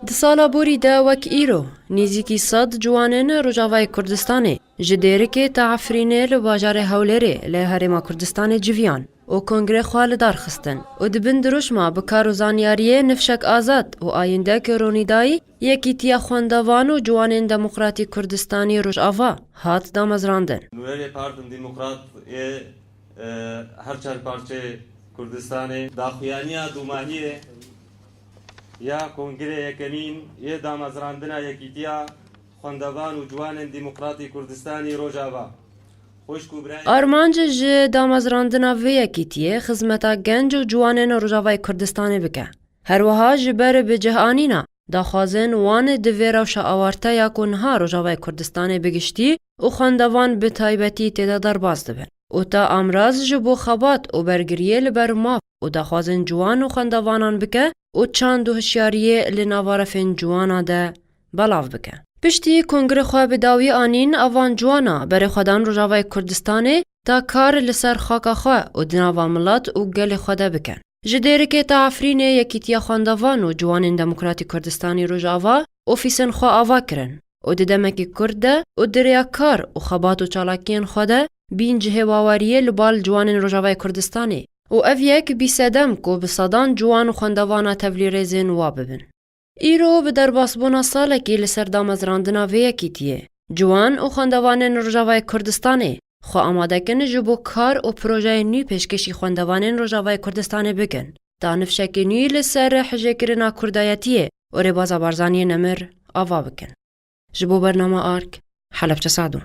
Di sala borî de wek îro, nêzîkî sed ciwanên Rojavayê Kurdistanê ji Dêrikê ta Efrînê li bajarê Hewlêrê li Herêma Kurdistanê civiyan û kongre xwe li dar xistin û di bin dirûşma bi kar û zanyariyê Nifşek Azad û Ayîndek Ronîdayî Yekîtiya Xwendevan û Ciwanên Demokratîk Kurdistanî Rojava hat damezrandin. Nûnerê Partin Demokrat yê her çar parçeyê Kurdistanê daxuyaniya dûmahiyê Ya Kongrê Yekemîn yê Damezrandina Yekîtiya Xwendevan û Ciwanên Demokratî Kurdistanî Rojava Xwişk û Birayê. Armanc ji damezrandina vê yekîtiyê xizmeta genc û ciwanên Rojavayê Kurdistanê bike. Her wiha ji ber bi cih anîna daxwazên wan di vê rewşa awarte ya ku niha Rojavayê Kurdistanê bi giştî û xwendevan bi taybetî tê de derbas dibin û ta amraz ji bo xebat û bergiriyê li ber maf û daxwazên ciwan û xwendavanan bike û çand û hişyariyê li nava refên ciwana de belav bike. Piştî kongre xwe bi dawî anîn a van ciwana berê xwe dan Rojavayê Kurdistanê ta kar li ser xaka xwe û di nava milet û gelê xwe de bikin. Ji dêrikê ta Efrînê Yekîtiya Xwendevan û Ciwanên Demokratîk Kurdistanî Rojava ofîsên xwe ava kirin. û di demekî kurt de û di rêya kar û xebat û çalakiyên xwe de bîn cihê waweriyê li bal ciwanên Rojavayê Kurdistanê û ev yek bî sedem ku bi sedan ciwan û xwendevana tevlîrêzên wa bibin. Îro bi derbasbûna salekî li ser damezrandina vê yekîtiyê, ciwan û xwendevanên Rojavayê Kurdistanê xwe amadekin ji bo kar û projeyên nû pêşkêşî xwendevanên Rojavayê Kurdistanê bikin Da nifşekê nû li ser hijêkirina kurdayetiyê û rêbaza Barzaniyê nemir ava bikin. Ji bo bernama ark, Helebçe Sadûn.